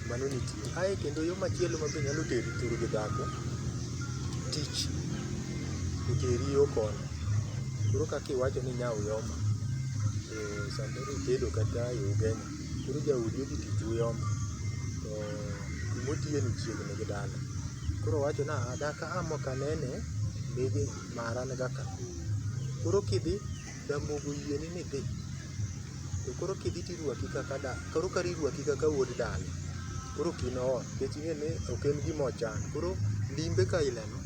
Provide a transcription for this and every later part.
Mano nitie. Ae kendo yo machielo ma be nyalo teri thuru gi dhako, tich. Oteri yo koni. Koro kaka iwacho ni inya uyoma, to samoro itedo kata e ugenya, koro jaodi odhi tich uyoma, to kuma otiye ni chiegni gi dala. Koro owacho ni "aa, daka a mokanene, mege mara niga ka". Koro kidhi. Ramogo yieni ni dhi. To koro kidhi tirwaki kaka da, koro kar irwaki kaka wuod dala, koro ok in ot. Nikech ing'e ni ok en gima ochan. Koro limbe ka ileno,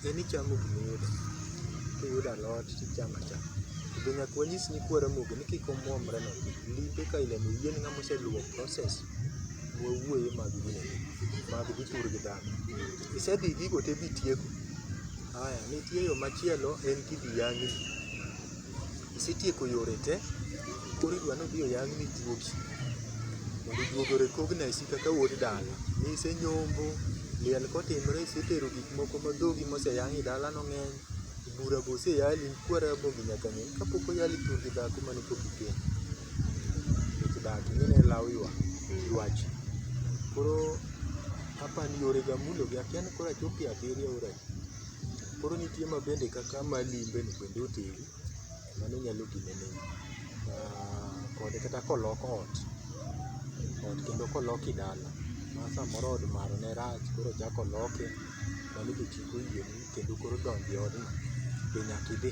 en ichamo gima iyudo. Kiyudo alot tichamo achama. To be nyaka wanyis nyikwa Ramogi ni kik omuomre ne gi. Limbe ka ilemo yieni ng'ama oseluwo process mwawuoye mag gini, mag dhi tur gi dhano. Isedhi gigo te bitieko. Haya, nitie yo machielo en kidhi yang'ni. Isetieko yore te, koro idwa ni idhi oyang'ni juogi. Mondo juogi orekogni aisi kaka wuod dala. Nisenyombo, liel kotimre isetero gik moko ma dhogi moseyang' e dalano ng'eny, bura be oseyali, ikwere rabogi nyaka ng'e ni kapok oyali tur gi dhako mane pok ikendo. Nikech dak ing'e ni en law ywak, ywach. Koro Apani yore ga mulo gi akia ni koro achopo e abiriyo oro adi. Koro nitie ma bende kaka ma limbe no bende oteri, mano nyalo gine negi. Ah, kod kata kolok ot, ot kendo koloki dala, ma samoro od maro ne rach koro ochak oloke, mano be chik oyieni kendo koro donjo e odno be nyaki dhi.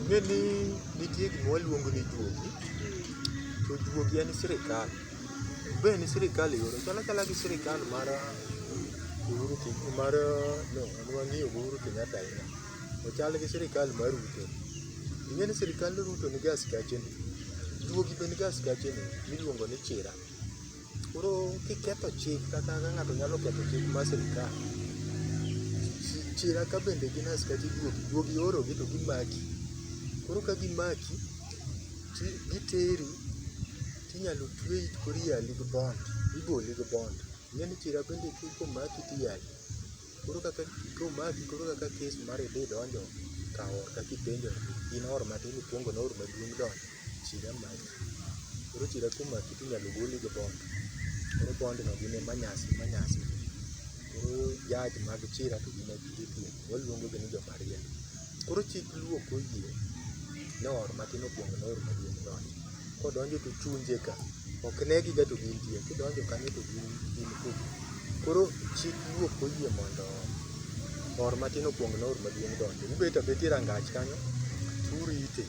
Ing'e ni nitie gima waluongo ni juogi, to juogi en sirkal. Be en sirkal e yore, chalo achala gi sirkal mar Uhuru Kenyatta, mar no, an wang'iyo gi Uhuru Kenyatta ahinya. Ochal gi sirkal mar Ruto. Ing'e ni sirkand Ruto nigi askeche ne, juogi be nigi askeche ne miluongo ni chira. Koro kiketho chik kata ka ng'ato nyalo ketho chik mar sirkal, chira ka bende gin askache duogi, duogi iorogi to gimaki. Koro ka gimaki, ti giteri tinyalo tweyi koro iyali gi bond, iboli gi bond. Ing'eni chira bende komaki tiyali. Koro kaka komaki koro kaka kes mari dhi donjo ka or ka kipenjo ni in or matin ikwongo noor maduong' donjo chira maki. Koro chira komaki tinyalo goli gi bond, koro bond no gin e manyasi manyasi. Koro judge mag chira to gin e gidhi tieko, waluongo gi ni jo marieba. Koro chik luo koyie noor matin okuong noor maduong donjo. Kodonjo to ochunje ka, ok negi ga to gintie, kidonjo kanyo to gin gin kuku. Koro chik luo ok oyie mondo oor matin okuong noor maduong donjo. Ubet abeta e rangach kanyo to urite,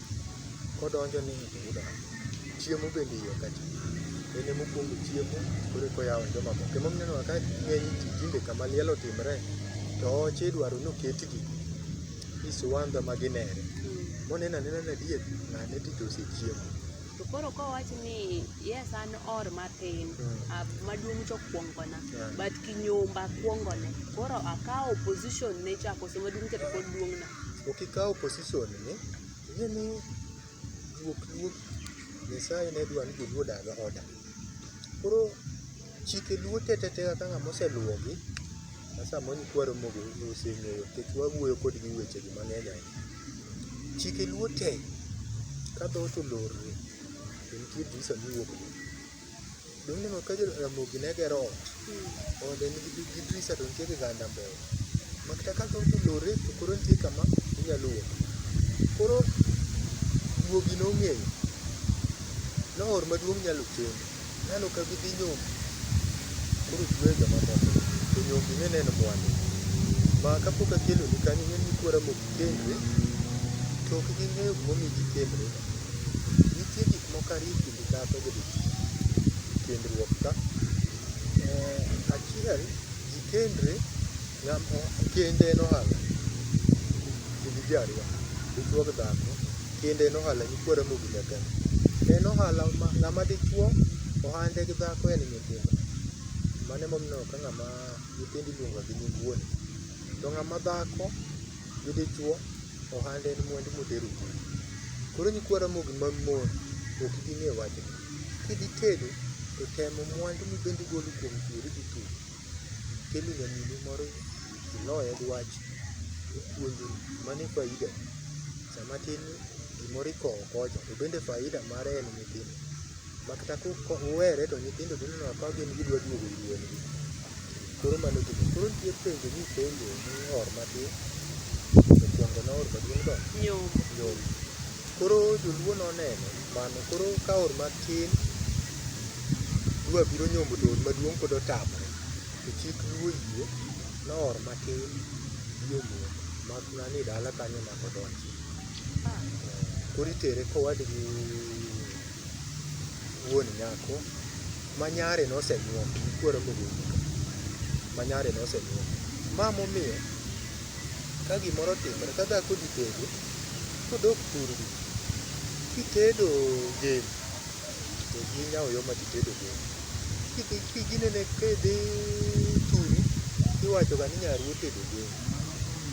kodonjo ni to udonjo. Chiemo bende iye kacha. En ema okuongo chiemo koro eka oyawo ne jomamoko. Ema omiyo ineno ka ng'eny ji tinde kama liel otimre to oche idwaro ni oketgi ni siwandha ma ginere. Monen anena ni adier ng'ane to to osechiemo. To koro kowach ni yes an or matin, Mm. ah, maduong' to kuongona, Yeah. but kinyumba kuongone. Koro akawo position ne cha koso maduong' cha to pod duong'na. Ok ikaw position ni ing'e ni Guok Ruoth Nyasaye ne dwa ni joluo odag oda. Koro chike luo te te te kaka ng'ama oseluwogi ma samoro ikwaro mogo oseng'eyo nikech wawuoyo kodgi e wechegi mang'eny ahinya. Chike luo te ka dhoot olorre to nitie visa miwuok go. Dong neno ka Ramogi ne gero ot. Ode nigi gi gi drisa to nitie kiganda mbele. Makata ka dong lore to koro nitie kama inyalo wuok. Koro guogi nong'eyo. Noor maduong' nyalo kendo. Nano ka gidhi nyombo. Koro tuwe joma moko. To nyombi ne neno mwandu. Ma kapok akelo ni kanyo ng'en ni kuora mok kendre. To ok ging'eyo gimomiyo gikendre. Nitie gik moko ariyo Gigato gi kendruok ka. Eh, achiel, ji kendre ngam kende en ohala. Kendo ji ariyo, dichwo gi dhako, kende en ohala nyikwa Ramogi nyaka ni. En ohala ma ng'ama dichwo ohande gi dhako en nyithindo. Mano emomiyo ineno ka ng'ama nyithindo iluonga gi nying wuon. To ng'ama dhako gi dichwo Ohande en mwandu modhero ji. Koro nyikwa Ramogi mag mon ok ibi ng'e wachni. Kidhi tedo to temo mwandu mibende igolo kuom chuori gi thuol. Kelo nyaminu moro iloye gi wach ipuonje mano e faida. Sama tin ni gimoro ikowo kocha to bende faida mare en nyithindo. Makata ka uwere to nyithindo dhi neno ka gin gidwa duogo ir wuongi. Koro mano gini. Koro nitie penjo ni penjo ni or matin. Mokwongo na or maduong' dok. Nyombo. Nyombo. Koro joluo noneno mano. Koro ka or matin dwa biro nyombo to or maduong' pod otamre. To chik luo oyie ni or matin biro nyombo. Mak mana ni dala kanyo ema ok odonjie. Koro itere kowadgi. wuon nyako ma nyare nosenyuom ikwero kogol nyaka ma nyare nosenyuom. Ma momiyo ka gimoro otimore ka dhako odhi tedo kodok thurgi kitedo gem to gi nyawo yo madhi tedo gem. Kidhi ki ginene kidhi thuri tiwachoga ni nyaruo otedo gem,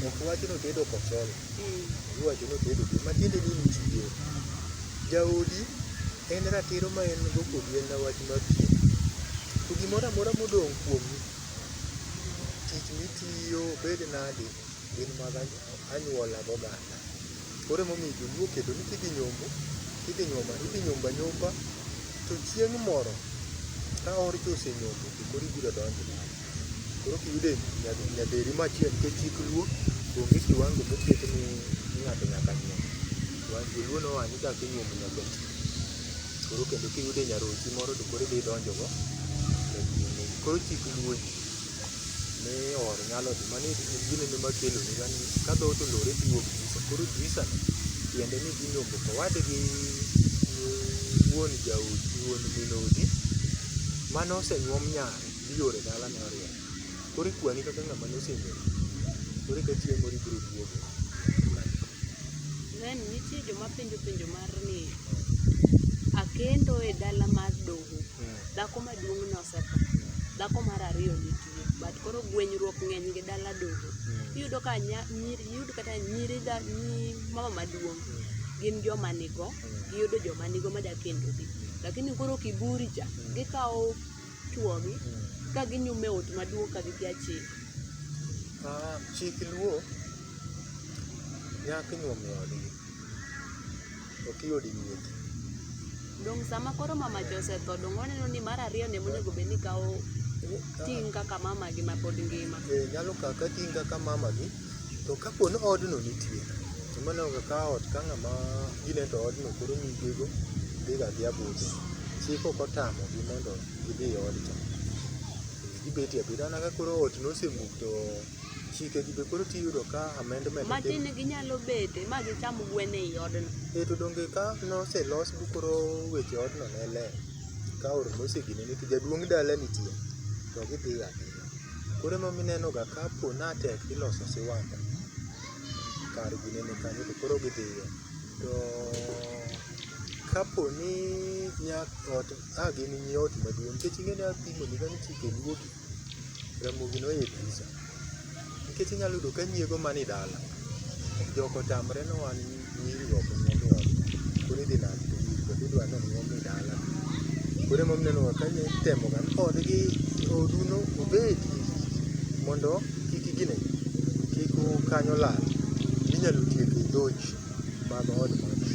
ok wach notedo kosolo. Iwacho ni otedo gi matiende ni nitie. Jaodi en ratiro ma en go kodi en na wach mar pien. To gimoro amora modong' kuomi, tich mitiyo obed nadi gin mag anyuola gi oganda. Koro emomiyo joluo oketo ni kidhi nyombo, kidhi nyombo idhi nyombo anyomba to chieng' moro ka orcho osenyombo to koro ibiro donjo dala. Koro kiyude nyaderi machiel nikech chik luo onge kiwango moket ni ng'ato nyaka nyuom. Joluo noa ni kaka inyuomo nyakono. Koro kendo kiyude nyarochi moro to koro idhi idonjo go. Koro chik luo ji ni or nyalo dhi mani en gino ema keloni ga ni ka dhoot olore to iwuok disa. Koro disa no tiende ni idhi nyombo owadgi wuon jaodi wuon min odi mane osenyuom nyare. Diore dala ne orieny. Koro ikwani kaka ng'ama nosenyori. Koro eka chieng' moro ibiro duogo. Then nitie joma penjo penjo mar ni akendo e dala mar doho, dhako maduong' ne osetho, dhako mar ariyo nitie but koro gwenyruok ng'eny gi dala doho. Iyudo ka nya, nyiri, iyud kata nyiri dha, nyi mama maduong' gin joma nigo, giyudo joma nigo madwa kendogi. Lakini koro kiburi cha, gikawo chwogi ka ginyumo e ot maduong' ka gikia chik? Ah, chik luo nyako inyuom e odgi ok i od nyiri Dong sama koro mamacha osetho, dong oneno ni mar ariyo ne monego bed ni kawo ting' kaka mamagi ma pod ngima. Eh, nyalo kawo ka ting' kaka mamagi To kapo ni odno nitie, to mano kaka ka ot ka ng'ama gine to odno koro nyigego dhiga adhiya budho. Chik ok otamogi mondo gidhi e odcha. Gibetie abeda mana ka koro ot nosemuk to chikegi be koro tiyudo ka amendment Ma otim. tin ginyalo bete ma gicham gwen ei odno. Eh, to donge ka noselos bu koro weche odno ne ler. Ka ot nosegine ni to jaduong' dala nitie, to gidhiga adhiya. Koro ema omiyo ineno ga ka po ni tek iloso siwandha kar gine ni kanyo to koro gi dhiye. To ka po ni nya ot a gin nyi ot maduong' nikech ing'e ni apimo ni kanyo ichike duogi, Ramogi noyie kabisa. Nikech inyalo yudo ka nyiego man e dala jok otamre ni wan nyiri ok nyuol. Koro idhi nade to nyiri bende idwa ni onyuom e dala. Koro ema omiyo inenoga ka itemo ga ni odgi, odu no obedi mondo kik gine, kik kanyo lal. Inyalo tiek e dhoji mag od magi.